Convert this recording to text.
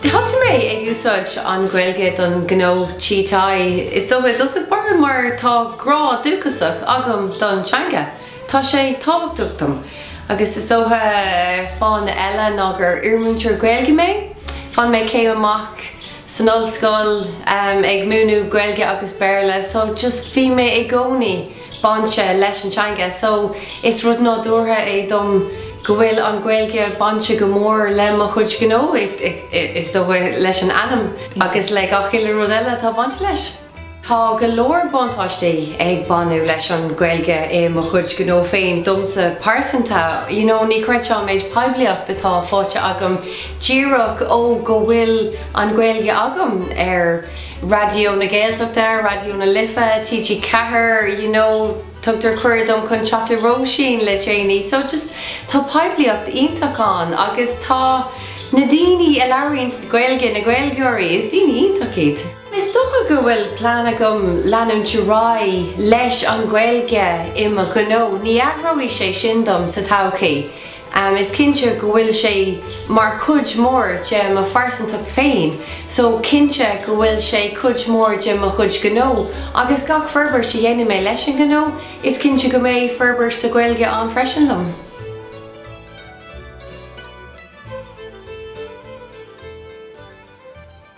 Thosaigh mé ag úsáid an Ghaeilge don ghnó T-léinte. Is dócha i dtús báire mar tá grá dúchasach agam don teanga. Tá sé tábhachtach dom, agus is dócha fáthanna eile, ná gur iarmhúinteoir Gaeilge mé. Bhain mé céim amach san ollscoil ag múineadh Gaeilge agus Béarla so just bhí mé i gcónaí bainte leis an teanga. So is rud nádúrtha é dom go bhfuil an Ghaeilge bainte go mór le mo chuid gnó, is dócha leis an ainm agus le gach uile rud eile atá bainte leis. Tá go leor buntáistí ag baint leis an Ghaeilge i mo chuid gnó féin. Domsa pearsanta, you know, ní chreidfeá an méid poiblíocht atá faighte agam díreach toisc go bhfuil an Ghaeilge agam, ar Raidió na Gaeltachta, Raidió na Life, TG Ceathair, you know, tugtar cuireadh dom chun teacht le Róisín le déanaí. So just, tá poiblíocht iontach ann agus tá na daoine a labhraíonns Gaeilge, na Gaeilgeoirí, is daoine iontach iad. Is dócha go bhfuil plean agam leanúint ar aghaidh leis an Ghaeilge i mo ghnó. Ní athróidh sé sin dom sa todhchaí. Is cinnte go bhfuil sé mar chuid mór de mo phearsantacht féin so cinnte go bhfuil sé cuid mór de mo chuid gnó agus gach forbairt a dhéanfaidh mé leis an ngnó is cinnte go mbeidh forbairt sa Ghaeilge ann freisin liom.